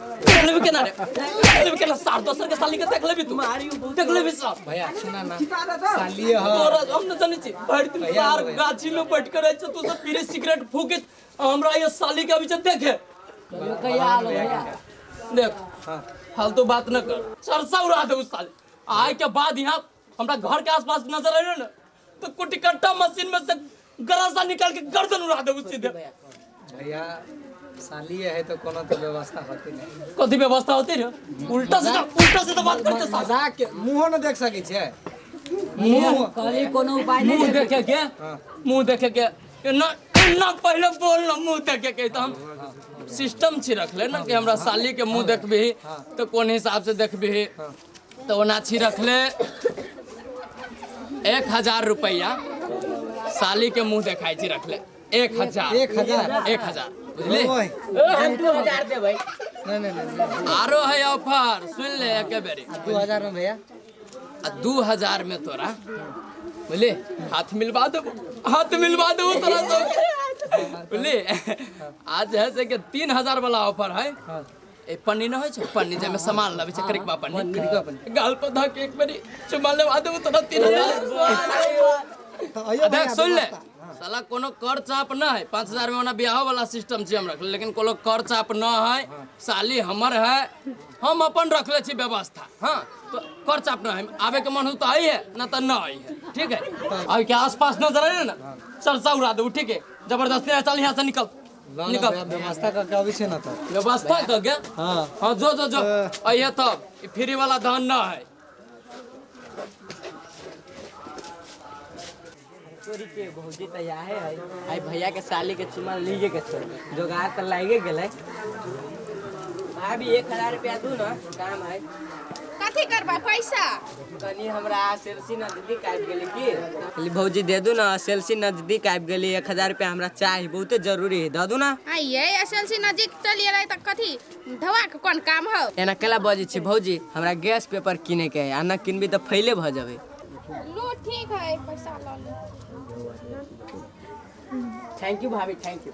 देख लेबे केना रे देख लेबे केना सार दोसर के साली के देख लेबे तू देख लेबे सार भैया सुना ना सालिए ह तोरा हम न जाने छी भरि दिन भैया, सार भैया। गाछी में बैठ के रहे छ तू सब पीरे सिगरेट फूके हमरा ये साली के बीच देखे देख फालतू बात न कर सरसा उड़ा दे उस साले आय के बाद यहाँ हमरा घर के आसपास नजर आयो ना तो कुटी कट्टा मशीन में से गरासा निकाल के गर्दन उड़ा दे उसी दे भैया साली है तो कोनो तो व्यवस्था होती नहीं कथी व्यवस्था होती रे उल्टा से उल्टा से तो बात करते साला मजाक के मुंह न देख सके छे मुंह कभी कोनो उपाय नहीं मुंह देखे के हाँ। मुंह देखे के ये ना ना पहले बोल ना मुंह देखे के तो हम सिस्टम छी रखले ना कि हमरा साली के मुंह देखबी तो कौन हिसाब से देखबी तऽ ओना छी रखले एक हजार रुपैआ साली के मुंह देखाइ छी रखले एक हजार एक हजार एक हजार बुझली आरो है ऑफर सुन ले एके बेरी दू हजार में भैया आ दू हजार में तोरा बुझली हाथ मिलवा देबो हाथ मिलवा देबो तोरा सब बुझली आज है से के तीन हजार वाला ऑफर है ए पन्नी ना होय छै पन्नी जे में सामान लाबे छै करिकबा पन्नी गाल पर धक एक बारी चुमा ले आदे तो ना तीन हजार देख सुन ले साला कोनो कर चाप ना है पाँच हजार में ओना ब्याह वाला सिस्टम छै हम रखले लेकिन कोनो कर चाप ना है साली हमर है हम अपन रखले छी व्यवस्था हाँ तो कर चाप ना है आवे के मन हो तो आई है ना तो ना आई है ठीक है अब क्या आसपास नजर आए ना चल सा उड़ा दो ठीक है जबरदस्ती ना चल यहाँ से निकल निकल व्यवस्था करके अबै छै ना तऽ व्यवस्था कऽ के हाँ हाँ जो जो जो अइहे तब ई फ्री वाला धान ना है तोरी के भौजी त याहे है आई भैया के साली के चुमा लीजे के छोड़ जोगार त लागे गेले भाभी एक हजार रुपया दू ना काम है कथी करबा पैसा कनी हमरा सेल्सी नजदीक आबि गेली की कहली भौजी दे दू ना सेल्सी नजदीक आबि गेली एक हजार रुपया हमरा चाही बहुते जरूरी है दऽ दू ना आ ये एसएलसी नजदीक चल गेलै तऽ कथी धवा के कोन काम हौ एना केला बजै छी भौजी हमरा गैस पेपर किने के है आ ना किनबी तऽ फैले भऽ जेबै लो ठीक है पैसा लऽ ले थैंक यू भाभी थैंक यू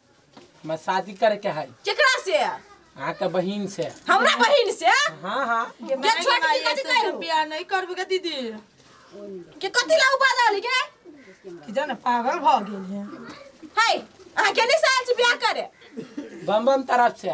हमरा शादी करे के है केकरा से अहाँ के बहिन से हमरा बहिन से हाँ हाँ के छोट की कथी करू बियाह नहीं करबे के दीदी के कथी ला उपाय रहली के कि जाने पागल भ गेल है हाय अहाँ केने साल से बियाह करे बम बम तरफ से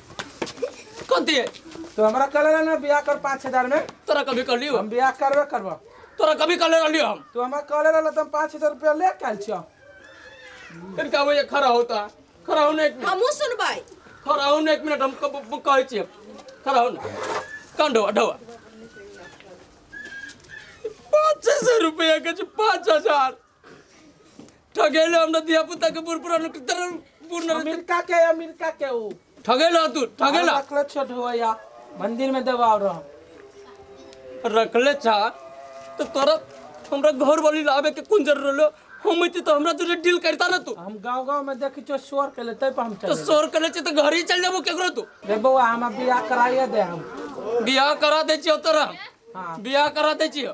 कौन दिए तो हमरा कहले रहे ना बियाह कर पाँच हजार में तोरा कभी कर लियो हम बियाह करबे करबा तोरा कभी कर ले लियो हम तो हमरा कहले रहे तुम पाँच हजार रुपया ले काल छिया फिर का वो ये खड़ा होता खड़ा होने एक मिनट हमहूँ सुनबै खड़ा होने एक मिनट हम कब- कब कहै छियै खड़ा हो ना कान ढोआ ढोआ पाँच हजार रुपया के छै, पाँच हजार ठगेले हमरा दिया पुता के बुर पुरान तर पूर्ण अमेरिका के अमेरिका के ऊ ठगेला तू ठगेला रखले छोट होया मंदिर में दबाव रह रखले छा तो तोरा हमरा घर वाली लावे के कुन जरूर रहलो हम इति तो हमरा तुझे डील करता ना तू हम गांव गांव में देखी छो शोर के लेते पर हम तो चले शोर करे छे तो घर ही चल जाबो केकरो तू रे बउआ हम बियाह कराइए दे हम बियाह करा दे छियो तोरा हाँ। बियाह करा दे छियो